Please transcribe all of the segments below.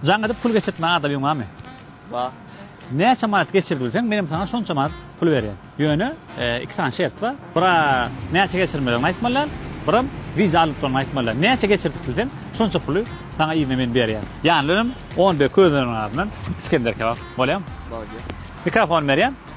Jaň edip pul geçirtmän adamyň barmy? Bar. Näçe manat geçirdilseň menem saňa şonça manat pul berýän. Ýöne iki sany şert bar. Bira näçe geçirmeligiňi aýtmalyň, biram wiza alnyp duranyňy aýtmalyň. Näçe geçirtip bilseň şonça puly saňa yzyna men berýän. Ýanynda önem on bir közleriniň adyndan Isgender kebap. Bolýamy? Bolýar. Mikrofony berýän.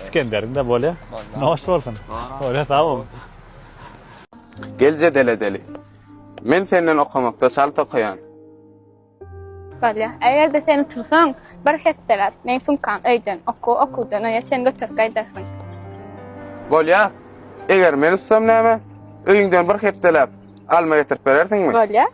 Iskenderinde bolya. Noş bolsun. Öyle sağ ol. Gel jedele deli. Men senden okamakda çalt okaýan. Bolya. Eger-de sen utursaň, bir hepdeläp meň sumkam öýden, okuw okuwdan öýe çen göterip gaýdarsyň. Bolya. Eger men utsam näme? Öýüňden bir hepdeläp alma getirip berersiňmi? Bolya.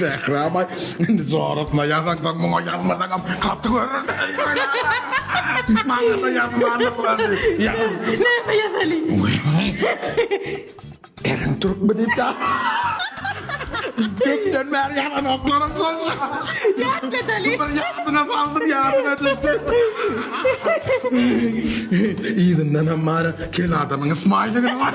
Zähra-a, indi jorasyna ýazarsaň, muňa ýazmasaňam gaty görürdi. Maňa-da ýazmarlyklary. Näme ýazaly? Eriň türkmi diýip ýaz. Gökden bäri ýagan oklaram şonça. Ýatlasaly. Bir ýadyna saldyr, ýadyna düşsün. Yzyndanam bari kel adamyň smaýligi bar.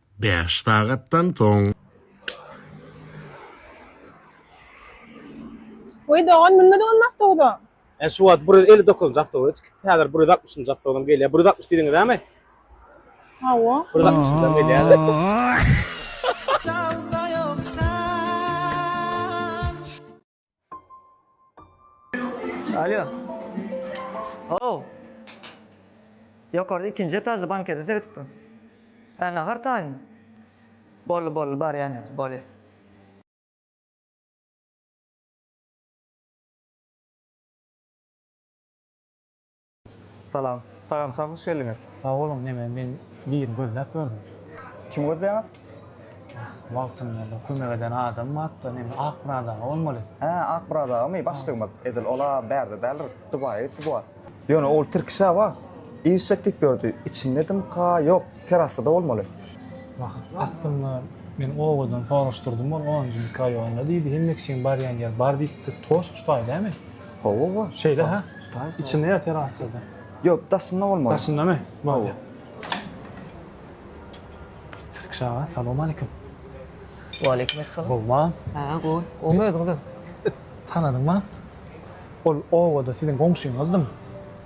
Bäş sagatdan soň. Weý dogan münmedi onuň awtobusa. He şu wagt bir ýüz elli dokuzynjy awtobus häzir bir ýüz altmyşynjy awtobusam gelýär bir ýüz altmyş diýdiňizämi? Hawa. Bir ýüz altmyşynjam gelýär. Alo. Oh. Ýokarda ikinji etažda bankete seredip dur. Hä, nahar taýyn. Boldy, boldy, barýan ýaly, bolýa. Salam. Sagamçam hoş geldiňiz. Sag boluň neme men birini gözläp gördüm. Kimi gözleýäňiz? Wagtynda bir kömek eden adam bardy-da neme Akmyrat aga bolmaly. Hä Akmyrat agamy başlygymyz edil ol-a bärde däldir Dubaýa gitdi bu wagt. Ýöne ol tirkiş hawa işjek diýip ýördi içindedimka ýok terasada bolmaly. Wah aslynda men obadan soraşdyrdym ol onunjy mikroýonda diýdi hemmekiçiň barýan ýeri bar diýipdi toşk şu taý dämi? Hawa-wa. Şeýle ha? Ustaý. Içinde ýatyr aslynda. Ýok, daşynda bolmaly. Daşyndamy? Bolýar. Tirkişe aga, salowmaleýkim. Waleýkim essalam. Gowma? Hä, gowy. Gowmy özüňizem? Tanadyňmy? Ol obada siziň goňşyňyzdym.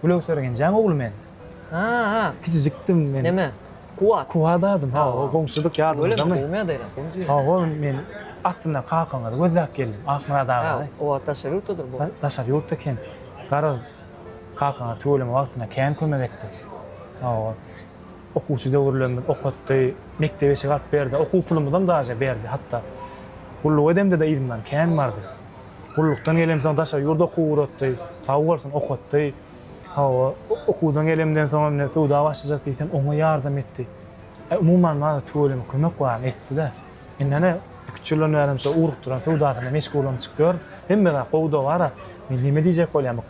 Gülöwser genjäň ogly men. Ha-ha. Kiçijikdim men. Näme? Kuwat. Kuwat adym ha o goňşudyk ýadymyzdamy? Hawa men aslynda kakaňyzy gözläp geldim Akmyrat agany. Oba daşary ýurtdadyr bu. Daşary ýurtda eken. Garaz kakaňa tüweleme wagtyna kän kömek etdi. Hawa okuwçy döwürlerimiz okatdy, mekdebe eşik alyp berdi, okuw pulumyzam daže berdi hatda. Gulluk edemde-de yzymdan kän bardy. Gullukdan gelemsoň daşary ýurda okuw ugratdy. Sag bolsun okatdy. Hawa, okuwdan gelemden soň hem söwda başlajak diýsem, oňa ýardam etdi. Umuman, maňa tüweleme kömek baryny etdi-de. Indi ene, iki-üç ýyldan bäri hem şo ugrukdyran söwdasyna meşgullanyşyp ýör. Hemme zat gowy-da-bar-a. Men näme diýjek bolýan, bu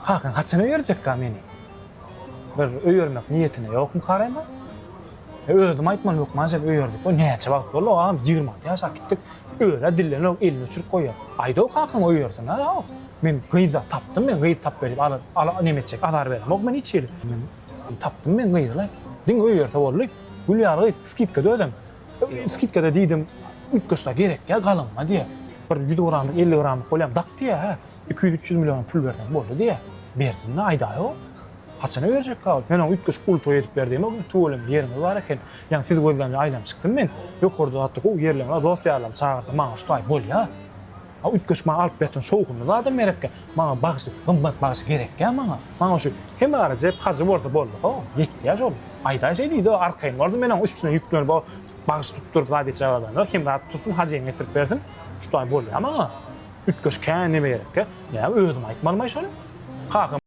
kakaň haçana berjekka meni? Bir öýermek niýetine ýokmyka Rema? Özüm aýtman hökman sen öýerdik we näçe wagt boldy agam ýigrimi alty ýaşap gitdik özä dillenok elini uçuryp goýýar aýdaw kakaň öýersin a aw men gyzda tapdym men gyz tap berip ala ala neme etjek azar beremok men hiç hili men tapdym men gyzy laý diňe öýerse boldy gül ýaly gyz skidkada özem skidkada diýdim üýtgeşdä gerek ýa galynma diýýär bir ýüz gramlyk elli gramlyk bolýam dak diýýär hä iki ýüz üç ýüz million pul berseň boldy diýýär bersin-le aýdaýaw Haçana berjekka ol? Men oňa üýtgeşik uly toý edip berdiýemok welin, tüweleme ýeriňiz bar eken. Ýaňy sizi gözlämde aýlanyp çykdym men. Ýokarda zatda gowy ýerleň bar, dost-ýarlarymy çagyrsa maňa şu taý bolýa. A üýtgeşik maňa alyp berseň şowhunly zadam gerekkä. Maňa bagşy, gymmat bagşy gerekkä maňa. Maňa şu Hemarajew hajy bolsa boldy-ha, ýetýä şol. Aýdaý şeý diý-de, arkaýyn bol-da men oň üstüne ýüklenip o bagşy tutduryp zat etjek adamlar Hemra tutsun, hajyňy getirip bersin. Şu taý bolýa maňa. Üýtgeşik kän neme gerekkä. Näme özüm aýtmalymaý şony? Kakam.